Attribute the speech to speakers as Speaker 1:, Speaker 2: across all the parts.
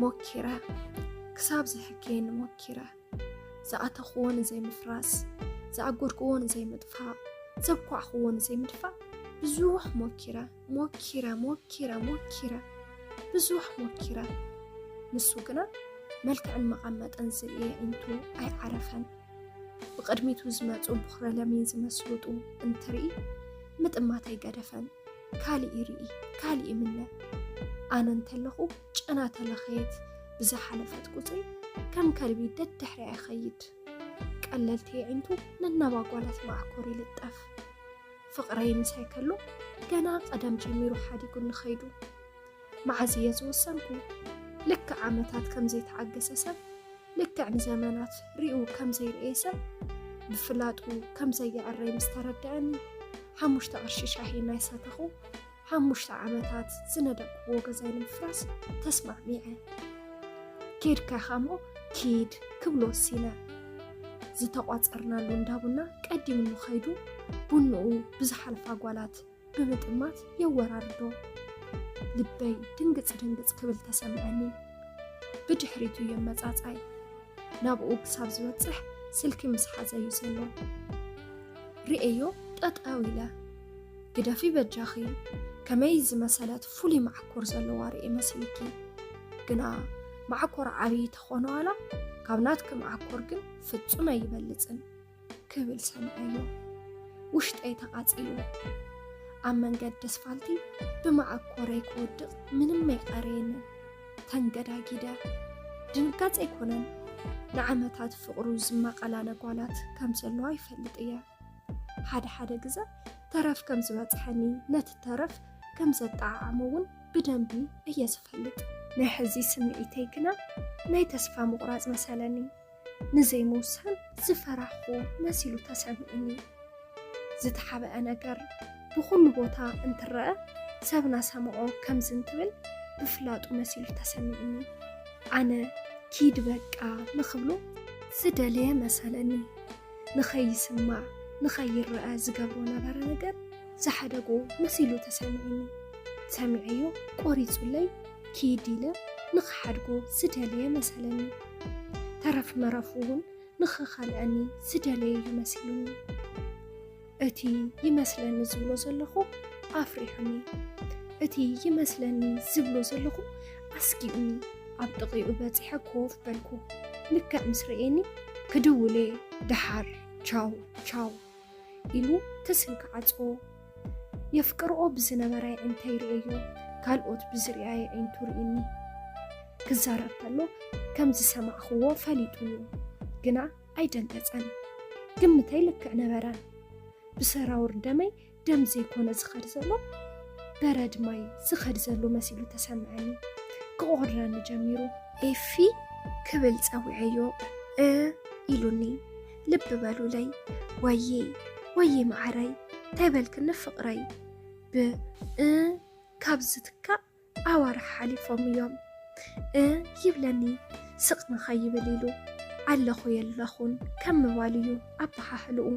Speaker 1: ሞኪረ ክሳብ ዘሕክየኒ ሞኪረ ዝኣተኽዎ ንዘይምፍራስ ዝኣጎድክዎ ንዘይምጥፋእ ዘብኳዕኽዎ ንዘይምድፋእ ብዙሕ ሞኪረ ሞኪረ ሞኪረ ሞኪረ ብዙሕ ሞኪረ ንሱ ግና መልክዕን መቐመጥን ዝርኤ እንቱ ኣይዓረፈን ብቕድሚቱ ዝመፁ ብኹረ ለሚን ዝመስሉ ጡብ እንትርኢ ምጥማት ኣይገደፈን። ካሊእ ይርኢ ካሊእ ይምነ። ኣነ እንተለኹ ጨና ተለኸየት ብዝሓለፈት ቁፅሪ ከም ከልቢ ደድሕሪያ ይኸይድ። ቀለልቲ የዒንቱ ነናባጓላት ማዕኮር ይልጠፍ። ፍቕረይ ምሳይ ከሎ ገና ቀደም ጀሚሩ ሓዲጉኒ ኸይዱ። መዓዝ እየ ዝወሰንኩ? ልክዕ ዓመታት ከም ዘይተዓገሰ ሰብ፣ ልክዕ ንዘመናት ሪኡ ከም ዘይርኤ ሰብ፣ ብፍላጡ ከም ዘየዕረይ ምስ ተረደኣኒ፣ ሓሙሽተ ቅርሺ ሻሂ እናይሰተኹ ሓሙሽተ ዓመታት ዝነደቅኩዎ ገዛይ ንምፍራስ ተስማዕሚዐ። ኬድካ ኢኻ እሞ ኪድ ክብሎ ወሲነ። ዝተቋፀርናሉ እንዳቡና ቀዲምኑ ከይዱ ቡንኡ ብዝሓልፋ ጓላት ብምጥማት የወራርዶ። ልበይ ድንግጽ ድንግጽ ክብል ተሰምዐኒ። ብድሕሪቱ የመጻጻይ ናብኡ ክሳብ ዝበጽሕ ስልኪ ምስ ሓዘዩ ዘሎ ርእዮ ጠጠው ኢለ ግደፊ በጃኺ ከመይ ዝመሰለት ፍሉይ ማዕኮር ዘለዋ ርእየ መሲልኪ ግና ማዕኮር ዓብዪ ተኾኖ ዋላ ካብ ናትኪ ማዕኮር ግን ፍጹም ኣይበልጽን። ክብል ሰምዐዮ ውሽጠይ ተቓጺሉ ኣብ መንገዲ ኣስፋልቲ ብመዓኮረይ ክወድቕ ምንም ኣይቀረየንን ተንገዳጊደ ድንጋጽ ኣይኮነን ንዓመታት ፍቕሩ ዝመቐላለ ጓላት ከም ዘለዋ ይፈልጥ እየ ሓደ ሓደ ግዘ ተረፍ ከም ዝበፅሐኒ ነቲ ተረፍ ከም ዘጠዓዓሞ እውን ብደንቢ እየ ዝፈልጥ ናይ ሕዚ ስምዒተይ ግና ናይ ተስፋ ምቑራፅ መሰለኒ ንዘይምውሳን ዝፈራሕኹ መሲሉ ተሰሚዑኒ። ዝተሓብአ ነገር ብኹሉ ቦታ እንትረኣ ሰብ ናሰምዖ ከምዚ እንትብል ብፍላጡ መሲሉ ተሰሚዑኒ። ኣነ ኪድ በቃ ንኽብሎ ዝደለየ መሰለኒ። ንኸይስማዕ ንኸይረኣ ዝገብሮ ነበረ ነገር ዝሓደጎ መሲሉ ተሰሚዑኒ። ሰሚዐዮ ቆሪጹለይ ኪድ ኢለ ንኽሓድጎ ዝደለየ መሰለኒ። ተረፍ መረፉ እውን ንኽኸልዐኒ ዝደለየ እዩ መሲሉኒ። እቲ ይመስለኒ ዝብሎ ዘለኹ ኣፍሪሑኒ። እቲ ይመስለኒ ዝብሎ ዘለኹ ኣስጊኡኒ። ኣብ ጥቒኡ በጺሐ ኮፍ በልኩ። ልክዕ ምስ ረኤኒ ክድውል እየ ደሓር ቻው ቻው ኢሉ ትስል ክዓጽዎ የፍቅርኦ ብዝነበራ የዒንተ ይርኤዮ ካልኦት ብዝርያ የዒንቱ ርኢኒ ክዛረብ ከሎ ከም ዝሰማዕኽዎ ፈሊጡ እዩ ግና ኣይደንገጸን ግምተይ ልክዕ ነበረ ብሰራውር ደመይ ደም ዘይኮነ ዝኸድ ዘሎ በረድ ማይ ዝኸድ ዘሎ መሲሉ ተሰምዐኒ ክቆረኒ ጀሚሩ ኤፊ ክብል ጸዊዐዮ እ ኢሉኒ ልቢ በሉለይ ወዬ ወዬ መዓረይ እንታይ በልክኒ ፍቕረይ ብ እ ካብ ዝትካእ ኣዋርሕ ሓሊፎም እዮም እ ይብለኒ ስቕ ንኸይብል ኢሉ ኣለኹ የለኹን ከም ምባል እዩ ኣበሃህልኡ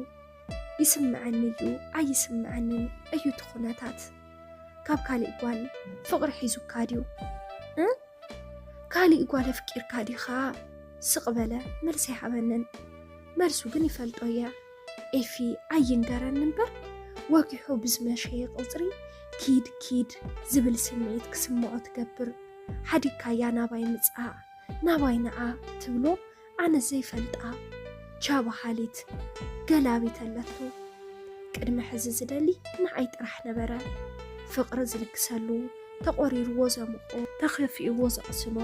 Speaker 1: ይስምዐኒ እዩ ኣይስምዐንን እዩ እቲ ኩነታት ካብ ካሊእ ጓል ፍቅሪ ሒዙካ ድዩ እ ካሊእ ጓል ኣፍቂርካ ዲኻ ስቅ በለ መልሲ ኣይሃበንን መልሱ ግን ይፈልጦ እየ ኤፊ ኣይንገረኒ እምበር ወጊሑ ብዝመሸየ ቁፅሪ ኪድ ኪድ ዝብል ስምዒት ክስምዖ ትገብር ሓዲግካያ ናባይ ምፃእ ናባይ ንዓ ትብሎ ኣነ ዘይፈልጣ ቻ በሃሊት ገላቢት ኣለቶ። ቅድሚ ሕዚ ዝደሊ ንዓይ ጥራሕ ነበረ። ፍቕሪ ዝልግሰሉ፣ ተቖሪርዎ ዘሙቖ፣ ተኸፊእዎ ዘቕስኖ፣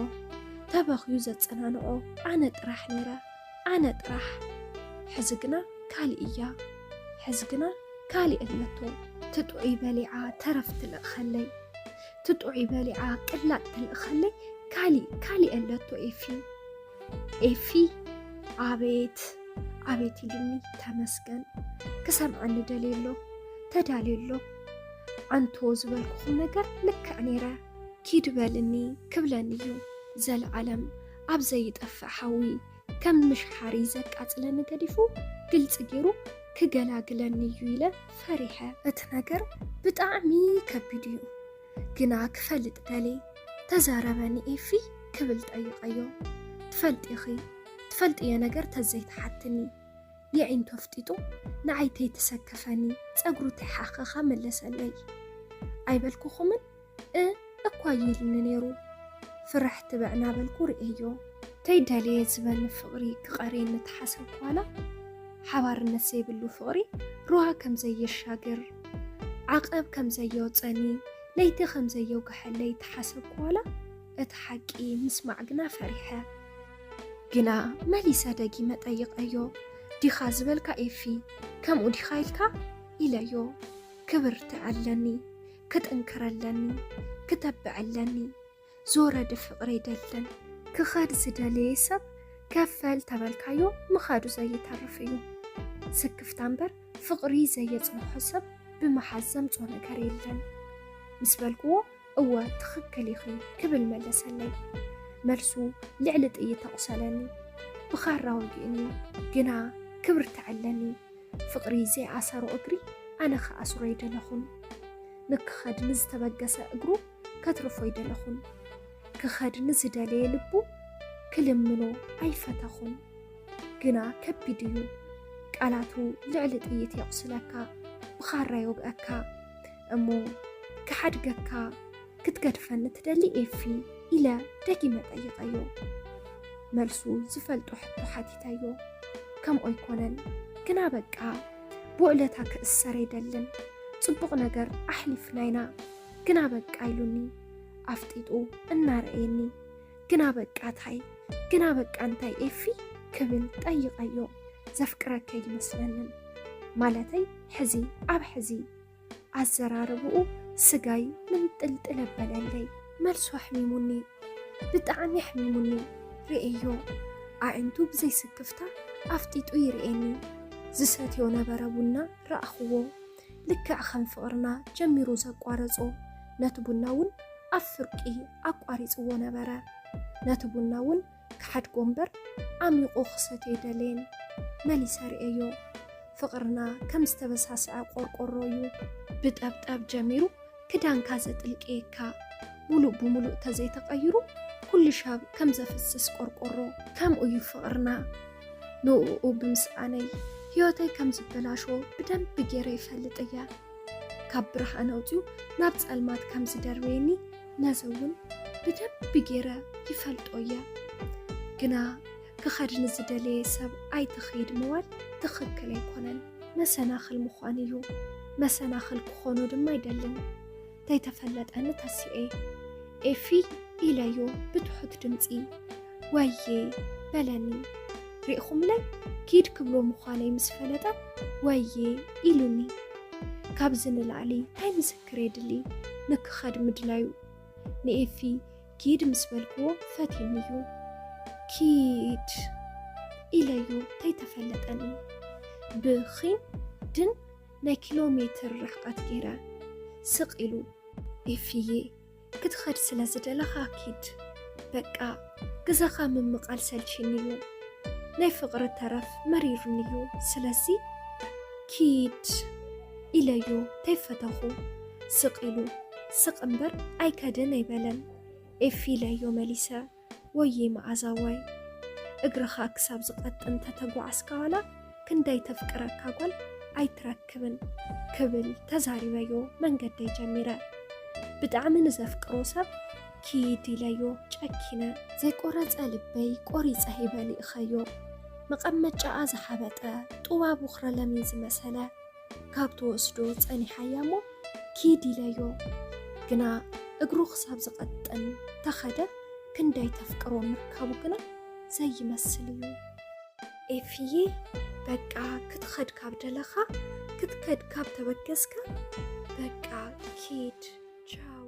Speaker 1: ተበኽዩ ዘጸናንዖ ኣነ ጥራሕ ነይረ። ኣነ ጥራሕ! ሕዚ ግና ካሊእ እያ። ሕዚ ግና ካሊእ ኣለቶ። ትጥዑይ በሊዓ ተረፍ ትልእኸለይ፣ ትጥዑይ በሊዓ ቅላጥ ትልእኸለይ ካሊእ ካሊእ ኣለቶ ኤፊ። ኤፊ ኣቤት ኣቤት ኢሉኒ ተመስገን ክሰምዐኒ ደልየ ኣሎ ተዳልየ ኣሎ ኣንቶ ዝበልኩኹም ነገር ልክዕ ነይረ ኪድ በልኒ ክብለኒ እዩ ዘለዓለም ኣብ ዘይጠፍእ ሓዊ ከም ምሽሓሪ ዘቃፅለኒ ገዲፉ ግልፂ ገይሩ ክገላግለኒ እዩ ኢለ ፈሪሐ እቲ ነገር ብጣዕሚ ከቢድ እዩ ግና ክፈልጥ ደልየ ተዛረበኒ ኤፊ ክብል ጠይቐዮ። ትፈልጢኺ ትፈልጥዮ ነገር ተዘይትሓትኒ የዒንቱ ኣፍጢጡ ንዓይ ተይትሰክፈኒ ፀጉሩ ተይሓኸኻ መለሰለይ። ኣይበልኩኹምን እ እኳ ይልኒ ነይሩ ፍርሕ ትብዕ እናበልኩ ርእየዮ። ተይደልየ ዝበኒ ፍቕሪ ክቐርየኒ ተሓሰብኩ ዋላ ሓባርነት ዘይብሉ ፍቕሪ ሩባ ከምዘይሻግር ዓቐብ ከም ዘየውፀኒ ለይቲ ከም ዘየውግሐለይ ተሓሰብኩ ዋላ እቲ ሓቂ ምስማዕ ግና ፈሪሐ ግና መሊሰ ደጊመ ጠይቐዮ ዲኻ ዝበልካ ኤፊ ከምኡ ዲኻ ኢልካ ኢለዮ ክብርትዕ ኣለኒ ክጥንክር ኣለኒ ክተብዕ ኣለኒ ዞረድ ፍቅሪ ይደልን ክኸድ ዝደለየ ሰብ ከፈል ተበልካዮ ምኻዱ ዘይተርፍ እዩ ስክፍታ እምበር ፍቅሪ ዘየፅንሖ ሰብ ብምሓዝ ዘምፆ ነገር የለን ምስ በልክዎ እወ ትኽክል ኢኺ ክብል መለሰለይ መልሱ ልዕሊ ጥይት ተቑሰለኒ ብኻራ ወጊእኒ ግና ክብር ተዐለኒ ፍቅሪ ዘይኣሰሮ እግሪ ኣነ ክኣስሮ ይደለኹን ንክኸድ ንዝተበገሰ እግሩ ከትርፎ ኣይደለኹን። ክኸድ ንዝደለየ ልቡ ክልምኖ ኣይፈተኹን። ግና ከቢድ እዩ። ቃላቱ ልዕሊ ጥይት የቑስለካ፣ ብኻራ ይወግኣካ። እሞ ክሓድገካ ክትገድፈኒ ትደሊ ኤፊ? ኢለ ደጊመ ጠይቐዮ። መልሱ ዝፈልጦ ሕቶ ሓቲተዮ። ከምኡ ኣይኮነን፣ ግና በቃ ብውዕለታ ክእሰር ኣይደልን። ጽቡቕ ነገር ኣሕሊፍና ኢና። ግና በቃ ኢሉኒ ኣፍጢጡ እናረእየኒ ግና በቃ ታይ ግና በቃ እንታይ ኤፊ ክብል ጠይቀዮ ዘፍቅረከ ይመስለንን ማለተይ ሕዚ ኣብ ሕዚ ኣዘራርብኡ ስጋይ ምንጥልጥል ኣበለለይ መልሱ ኣሕሚሙኒ ብጣዕሚ ኣሕሚሙኒ ርእዮ ኣዒንቱ ብዘይስክፍታ ኣፍጢጡ ይርእየኒ ዝሰትዮ ነበረ ቡና ረኣኽዎ ልክዕ ከም ፍቕርና ጀሚሩ ዘቋረጾ ነቲ ቡና እውን ኣብ ፍርቂ ኣቋሪጽዎ ነበረ። ነቲ ቡና እውን ክሓድጎ እምበር ዓሚቑ ክሰትዮ ኣይደለየን። መሊሰ ርእየዮ። ፍቕርና ከም ዝተበሳስዐ ቆርቆሮ እዩ። ብጠብጠብ ጀሚሩ ክዳንካ ዘጥልቅየካ ሙሉእ ብሙሉእ ተዘይተቀይሩ ኩሉ ሻብ ከም ዘፍስስ ቆርቆሮ ከምኡ እዩ ፍቅርና ንኡኡ ብምስኣነይ ህይወተይ ከም ዝበላሾ ብደንቢ ገይረ ይፈልጥ እየ ካብ ብርሃን ኣውፅኡ ናብ ፀልማት ከም ዝደርበየኒ ነዚ እውን ብደንቢ ገይረ ይፈልጦ እየ ግና ክኸድ ንዝደለየ ሰብ ኣይትኸይድ ምባል ትኽክል ኣይኮነን፣ መሰናኽል ምዃን እዩ። መሰናኽል ክኾኖ ድማ ኣይደልን። ተይተፈለጠኒ ተሲኤ ኤፊ ኢለዮ ብትሑት ድምፂ ወዬ በለኒ። ሪእኹምለይ ኪድ ክብሎ ምዃነይ ምስ ፈለጠ ወዬ ኢሉኒ። ካብዚ ንላዕሊ ታይ ምስክር የድሊ ንክኸድ ምድላዩ ንኤፊ ኪድ ምስ በልክዎ ፈትዩኒ እዩ ኪድ ኢለዮ ተይተፈለጠኒ ብኺን ድን ናይ ኪሎ ሜትር ርሕቀት ገይረ ስቕ ኢሉ ኤፍዬ ክትኸድ ስለ ዝደለኻ ኪድ በቃ ግዘኻ ምምቓል ሰልቺኒ እዩ ናይ ፍቕሪ ተረፍ መሪሩኒ እዩ ስለዚ ኪድ ኢለዮ ተይፈተኹ ስቅ ኢሉ ስቅ እምበር ኣይከድን ኣይበለን ኤፊ ኢለዮ መሊሰ ወይይ መኣዛዋይ እግርኻ ክሳብ ዝቀጥን ተተጓዓዝካ ዋላ ክንደይ ተፍቅረካ ጓል ኣይትረክብን ክብል ተዛሪበዮ መንገደይ ጀሚረ ብጣዕሚ ንዘፍቅሮ ሰብ ኪድ ኢለዮ ጨኪነ ዘይቆረፀ ልበይ ቆሪፀ ሂበ ሊእኸዮ መቀመጫኣ ዝሓበጠ ጡባ ቦኽረ ለሚን ዝመሰለ ካብ ትወስዶ ጸኒሓያ እሞ ኪድ ኢለዮ ግና እግሩ ክሳብ ዝቐጥን ተኸደ ክንደይ ተፍቅሮ ምርካቡ ግና ዘይመስል እዩ። ኤፍዬ በቃ ክትኸድ ካብ ደለኻ ክትከድ ካብ ተበገስካ በቃ ኪድ ቻው።